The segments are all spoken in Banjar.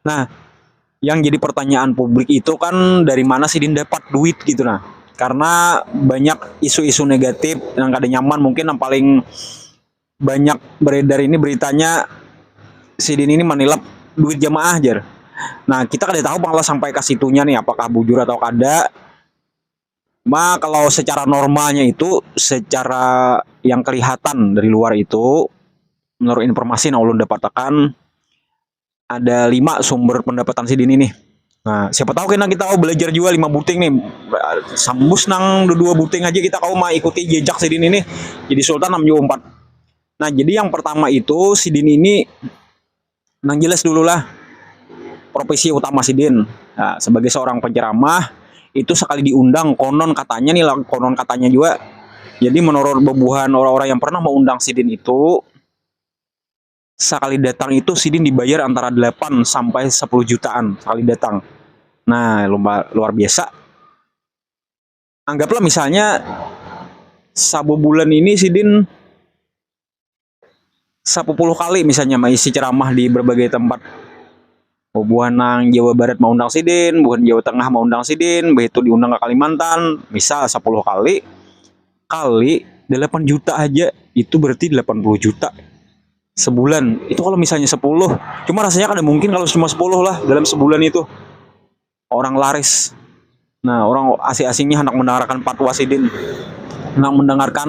Nah, yang jadi pertanyaan publik itu kan dari mana sih Din dapat duit gitu nah. Karena banyak isu-isu negatif yang kada nyaman mungkin yang paling banyak beredar ini beritanya si Din ini manilap duit jamaah jar. Nah, kita kada tahu malah sampai ke situnya nih apakah bujur atau kada. Ma kalau secara normalnya itu secara yang kelihatan dari luar itu menurut informasi yang ulun dapatakan ada lima sumber pendapatan sidini nih. Nah, siapa tahu kena kita kawa belajar jua lima buting nih. Sambus nang dua buting haja kita kawa maikuti jejak sidini nih jadi sultan am jua umpat. Nah, jadi yang pertama itu sidini ini Nang jelas dululah profesi utama sidin nah, sebagai seorang penceramah itu sekali diundang konon katanya nih lah konon katanya juga jadi menurut bebuhan orang-orang yang pernah mengundang sidin itu sekali datang itu sidin dibayar antara 8 sampai 10 jutaan sekali datang nah luar biasa anggaplah misalnya sabubulan ini sidin sapuluh kali misalnya maisi ceramah di berbagai tempat bubuhan nang Jawa Barat maundang sidin, bubuhan Jawa Tengah maundang sidin, behitu diundang ka Kalimantan, misal sapuluh kali, kali dalapan juta haja itu berarti dalapan puluh juta sebulan. Itu kalo misalnya sepuluh, cuma rasanya kada mungkin kalo cuma sepuluh lah dalam sebulan itu. Orang laris. Nah, orang asi-asing ni handak mendengarkan patwa sidin. Handak mendengarkan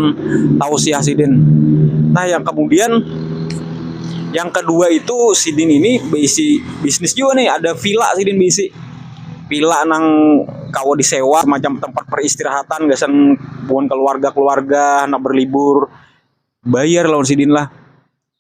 tausiah sidin. Nah, yang kemudian yang kedua itu sidin ini beisi bisnis juga nih, ada villa sidin beisi. Villa nang kawa disewa macam tempat peristirahatan gasan buhan keluarga-keluarga handak berlibur. Bayar lawan sidin lah.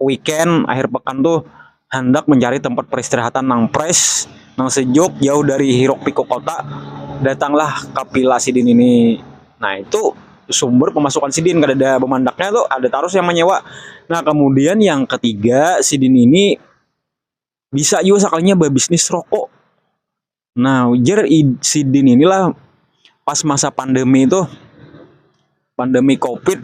weekend akhir pekan tuh handak mencari tempat peristirahatan nang fresh, nang sejuk jauh dari hiruk pikuk kota, datanglah ka villa sidin ini. Nah itu sumber pemasukan sidin kadada bamandaknya tu ada tarus yang menyewa. Nah kemudian yang ketiga sidin ini bisa jua sakalinya babisnis rokok. Nah, ujar sidin inilah pas masa pandemi itu pandemi covid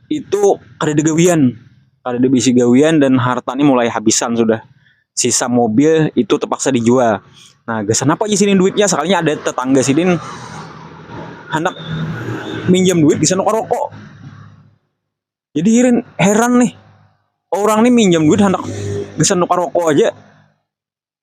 itu kada ada gawian kada ada bisi gawian dan harta ni mulai habisan sudah sisa mobil itu terpaksa dijual nah gasan apa isi ni duitnya sekalinya ada tetangga sidin handak minjam duit gasan nukar rokok jadi iring heran nih orang ni minjam duit handak gasan nukar rokok aja.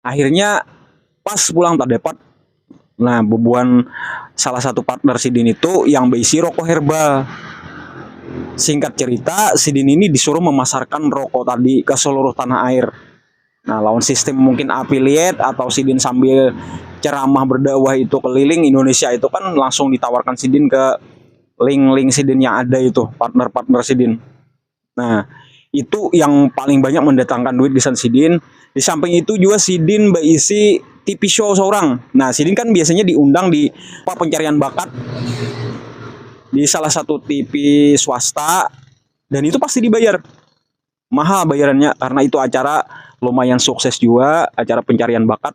akhirnya pas pulang terdapat nah bubuhan salah satu partner sidin itu yang berisi rokok herbal singkat cerita sidin ini disuruh memasarkan rokok tadi ke seluruh tanah air nah lawan sistem mungkin affiliate atau sidin sambil ceramah berdakwah itu keliling Indonesia itu kan langsung ditawarkan sidin ke link-link sidin yang ada itu partner-partner sidin Nah, itu yang paling banyak mendatangkan duit gasan sidin. Di samping itu juga sidin baisi TV show seorang. Nah, sidin kan biasanya diundang di apa pencarian bakat di salah satu TV swasta dan itu pasti dibayar. Mahal bayarannya karena itu acara lumayan sukses juga, acara pencarian bakat.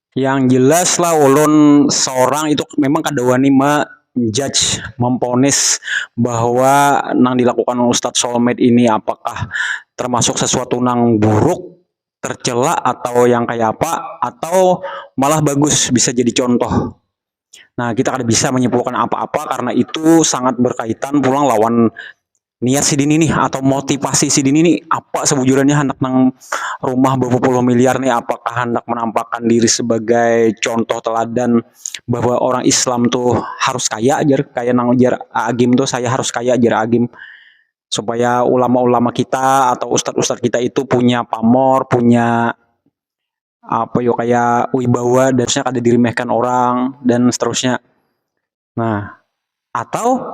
Yang jelas lah ulun seorang itu memang kada wani menjudge, memponis bahwa nang dilakukan Ustadz Soulmate ini apakah termasuk sesuatu nang buruk, tercela atau yang kaya apa atau malah bagus bisa jadi contoh. Nah kita kada bisa menyimpulkan apa-apa karena itu sangat berkaitan pulang lawan niat sidini nih atau motivasi sidini nih apa sebujurannya hendak nang rumah berpuluh miliar nih apakah hendak menampakkan diri sebagai contoh teladan bahwa orang Islam tuh harus kaya jar kaya nang jar Agim tuh saya harus kaya jar Agim supaya ulama-ulama kita atau ustad-ustad kita itu punya pamor punya apa yo kaya wibawa dan seterusnya kada diremehkan orang dan seterusnya nah atau